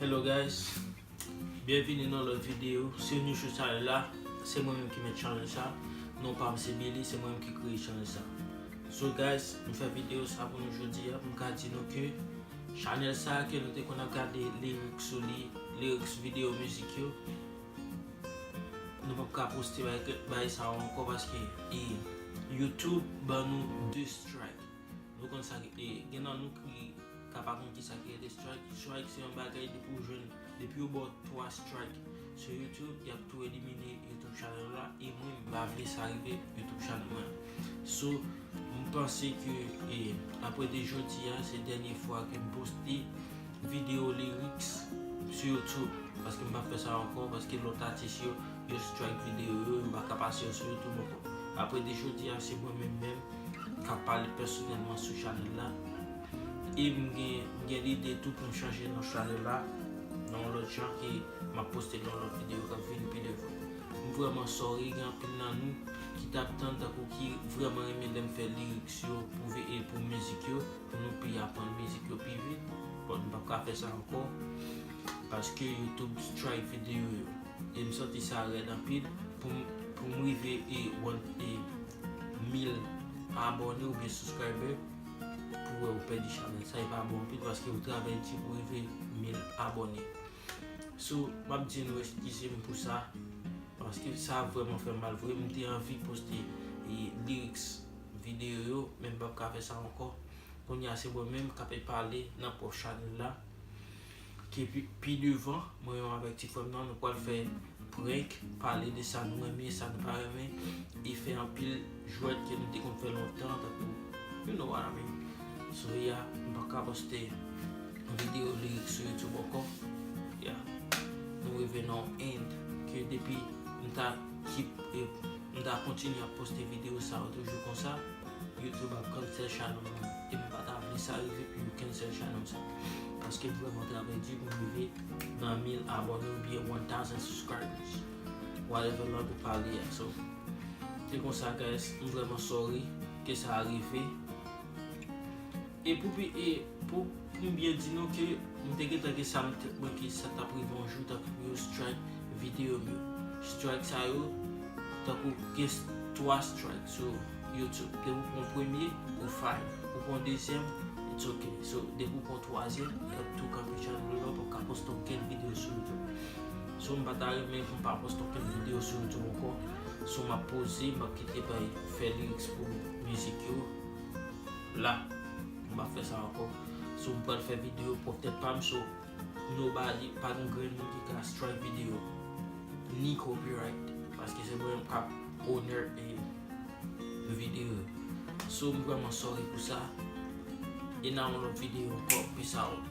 Hello guys, byenvini nan lòt videyo, si ou nou sou chanèl la, se mwen menm ki mèt chanèl sa, non pa m se Billy, se mwen menm ki kreye chanèl sa. So guys, m fè videyo sa pou nou jodi a, m ka di nou ke chanèl sa ke nou te konn ap gade lyrics sou li, lyrics videyo mizik yo, nou pap ka poste bagay sa yo ankò paske YouTube ban nou 2 strike. Nou konn sa ki e gen nan nou ki ka pa konn kisa ki rele strike, strike se yon bagay depi ou jwenn depi yo baw 3 strike sou YouTube yap tou elimine YouTube channel ou la e mwen m pa vle sa rive YouTube channel mwen so m panse ke e apre de jodi a se dènye fwa ke m poste video lyrics sou YouTube paske m pap fè sa ankò paske lòt atis yo Yo strike video yo, yo paka pase yo sou youtube ankò. Aprè de jodi a se mwen menm menm kap pale pèsonèlman sou chanèl la. E m gen lide tou poum chanje non chanèl la nan yon lòt jan e map poste nan yon lòt video kap vini pi devan. M vrèman sorry gen anpil nan nou ki tap tann tankou ki vrèman renmen lèm fè lyrics yo pou ve e pou mizik yo pou nou pi aprann mizik yo pi vit but m pap ka fè sa ankò paske youtube strike video yo. E m santi sa rèd anpil pou m rive e 1000 abòne oubyen subscriber pou wè ou pèdi chanèl sa e pa bon anpil paske ou travay di pou rive 1000 abòne so m ap di nou eskize m pou sa paske sa vreman fè m mal vre m te anvi poste e lyrics videyo yo men m p ap ka fè sa ankò kounye a se mwen menm k ape pale nan pwòp chanèl la. Ke pi devan mwen menm avèk ti frèm nan nou pwal fè prank pale de sa nou renmen sa nou pa renmen e fè anpil jwèt ke nou te konn fè lontan tankou you no wat a min so ya m paka poste video lirik sou youtube ankò ya nou rive nan yon end ke depi m ta kip m ta kontinye ap poste video sa yo toujou konsa. YouTube ap cancel channel mwen e mwen pa ta vle sa rive pou yo cancel channel sa paske m vrèman travay di pou m rive nan 1000 abòne ou byen 1000 subscribers whatever lang ou pale a so se konsa guys m vrèman sorry ke sa rive. E pou pi e pou pou m byen di nou ke m te gentan gen sa nan tèt mwen ke sa t ap rive yon jou tankou pou yo strike videyo m yo. Strike sa yo tankou gen 3 strike sou youtube. Depi w pran premye ou fine, ou pran dezyèm it's ok. So depi w pran twazyèm y ap tou kanpe chanèl ou la w p ap ka poste okenn videyo sou youtube. So m pa ta renmen pou m pa poste okenn videyo sou youtube ankò. So m ap poze m ap kite bay fè lyrics pou mizik yo. la m pap fè sa ankò so m pral fè video pwòp tèt pa m so nobody pa gen yon grenn moun ki ka strike video ni copyright paske se mwen kap owner e video so m vrèman sorry pou sa e nan yon lòt video ankò peace out.